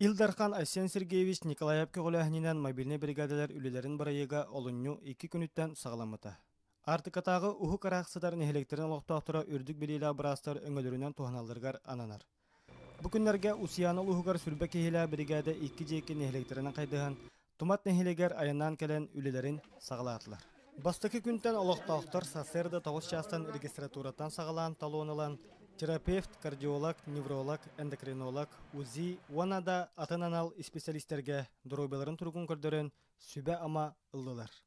Ил Дархан Айсен Сергеевич Николаев көҕүлээһининэн мобильнай биригээдэлэр үлэлэрин бырайыага олунньу икки күнүттэн саҕаламмыта. Аартыкатааҕы уһук араак сытар нэһилиэктэрин олохтоохторо үрдүк билиилээх быраастар өҥөлөрүнэн туһаналларыгар ананар. Бу күннэргэ Устьяна улууһугар Сүлбэ киһилээх биригээдэ икки дьиэки нэһилиэктэринэн хайдыһан, Тумат нэһилигэр айаннаан кэлэн үлэлэрин саҕалаатылар. Бастакы күнтэн олохтоохтор сарсыарда тоҕус чаастан регистратураттан саҕалаан талон ылан терапевт, кардиолог, невролог, эндокринолог, УЗИ уонна да атын анал исписэлиистэргэ доруобуйаларын туругун көрдөрөн сүбэ-ама ыллылар.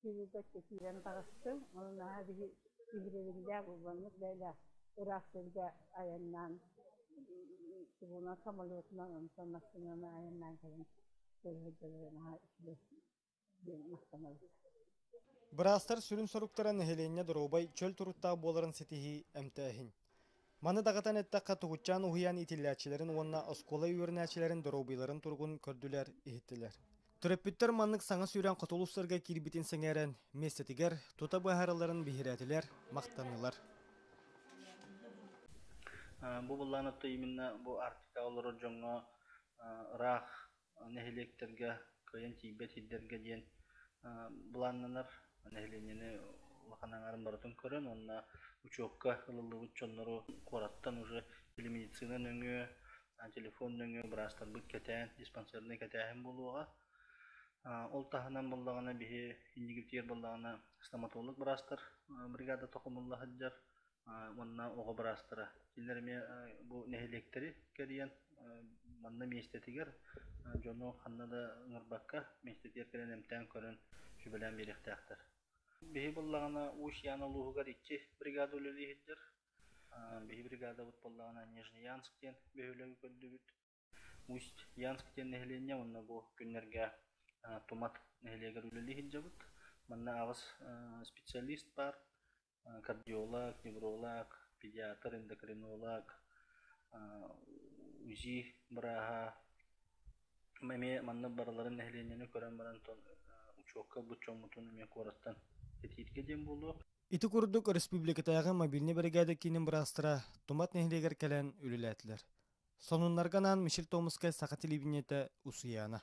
Киһитэ киирэн таҕыстым, ол наһаа биһи иһиригиллээх урбаннык бэйэлээх ыраах сиргэ айаннаан трибунал самолетунан онтон массыынаны айаннаан кэлэн көрөрдөрө наһаа үчүгэй диэн махтанабыт. Быраастар сүрүн соруктара нэһилиэнньэ доруобай, чөл туруктаах буоларын ситиһии, эмтээһин. Маны даҕатан эттэххэ, тугутчаан уһуйаан итиллээччилэрин уонна оскуола үөрэнээччилэрин доруобуйаларын туругун көрдүлэр, иһиттилэр. Төрөппүттэр маннык саҥа сүүрээн хоту улуустарга киирбитин сэҥээрэн, миэстэтигэр тута быһааралларын биһирээтилэр, махтаннылар. Бу былаан отто именно бу Арктика олорор дьоҥҥо ыраах нэһилиэктэргэ кыайан тиийбэт сирдэргэ диэн былааннанар нэһилиэнньэни улахан аҥаарын барытын көрөн уонна учуокка ылыллыбыт дьоннору куораттан уже или медицина нөҥүө телефон нөҥүө быраастарбыт кэтээн диспансернай кэтээһин буолуоҕа ол таһынан буоллаҕына биһи инникитигэр буоллаҕына стоматолог быраастар бригада токумулла сылдьар уонна оҕо быраастара. Кинилэр эмиэ бу нэһилиэктэри кэрийэн манна миэстэтигэр дьону ханна да ыҥырбакка миэстэтигэр кэлэн эмтээн көрөн сүбэлээн биэриэхтээхтэр. Биһи буллаҕына Уус-Ян улууһугар икки бригада үлэлииһирдэр. Биһи бригадабыт буоллаҕына Нижнеянск диэн бөһүөлэги көрдүбүт. Усть-Янск диэн нэһилиэнньэ уонна бу күннэргэ Тумат нэһилиэгэр үлэлии сылдьабыт. Манна аҕыс специалист баар, кардиолог, невролог, педиатр, эндокринолог, УЗИ бырааһа. Эмиэ манна барыларын нэһилиэнньэни көрөн баран учуокка ылбыт дьоммутун эмиэ куораттан кэтииргэ диэн буолуо. Ити курдук республикатааҕы мобильнай биригээдэ киинин быраастара Тумат нэһилиэгэр кэлэн үлэлээтилэр. Сонуннарга анаан Мишель Томскай саха телевидениетэ Усуйаана